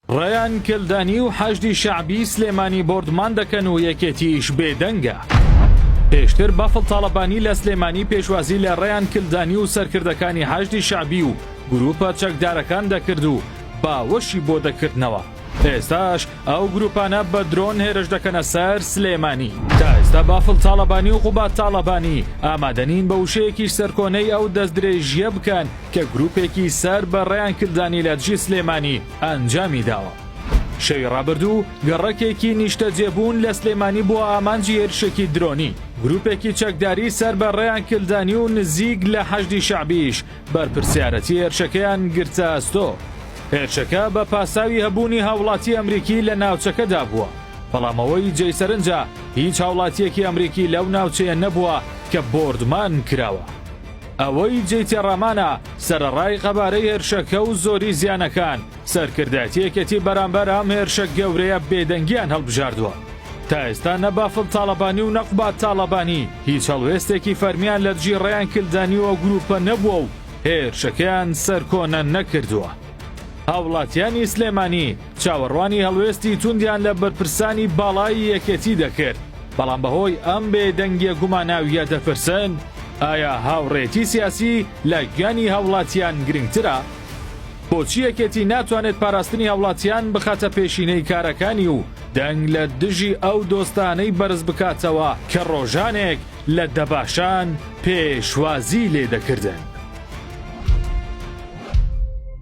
ڕەیان کلدانی و حەشدی شەعبی سلێمانی بۆردمان دەکەن و یەکێتیش بێدەنگە. پێشتر بافڵ تاڵەبانی لە سلێمانی پێشوازی لە ڕەیان کلدانی و سەرکردەکانی حەشدی شەعبی و گرووپە چەکدارەکان دەکرد و باوەشی بۆ دەکردنەوە، ئێستاش ئەو گرووپانە بە درۆن هێرش دەکەنە سەر سلێمانی. تا ئێستا بافڵ تاڵەبانی و قوباد تاڵەبانی ئامادەنین بە وشەیەکیش سەرکۆنەی ئەو دەستدرێژییە بکەن، کە گروپێکی سەر بە ڕەیان کلدانی لە دژی سلێمانی ئەنجامی داوە. شەوی ڕابردوو گەڕەکێکی نیشتەجێبوون لە سلێمانی بۆ ئامانجی هێرشێکی درۆنی گروپێکی چەکداری سەر بە ڕێیان کلدانی و نزیک لە حەشدی شەعبیش بەرپرسیارەتی هێرشەکەیان گرتە ئەستۆ هێرشەکە بە پاساوی هەبوونی هاوڵاتی ئەمریکی لە ناوچەکەدا بووە بەڵام ئەوەی جێی سەرنجە هیچ هاوڵاتیەکی ئەمریکی لەو ناوچەیە نەبووە کە بۆردمان کراوە. ئەوەی جێی تێڕامانە، سەرەڕای قەبارەی هێرشەکە و زۆری زیانەکان، سەرکردایەتی یەکێتی بەرامبەر ئەم هێرشە گەورەیە بێدەنگییان هەڵبژاردووە. تا ئێستا نە بافڵ تاڵەبانی و نە قوباد تاڵەبانی هیچ هەڵوێستێکی فەرمییان لە دژی ڕەیان کلدانی و ئەو گرووپە نەبووە و هێرشەکەیان سەرکۆنە نەکردووە. هاوڵاتییانی سلێمانی، چاوەڕوانی هەڵوێستی توندیان لە بەرپرسانی باڵای یەکێتی دەکرد، بەڵام بەهۆی ئەم بێدەنگیە گوماناویە دەپرسن ئایا هاوڕێتی سیاسی لە گیانی هاوڵاتیان گرنگترە؟ بۆچی یەکێتی ناتوانێت پاراستنی هاوڵاتیان بخاتە پێشینەی کارەکانی و دەنگ لە دژی ئەو دۆستانەی بەرز بکاتەوە کە ڕۆژانێک لە دەباشان پێشوازی لێدەکردن؟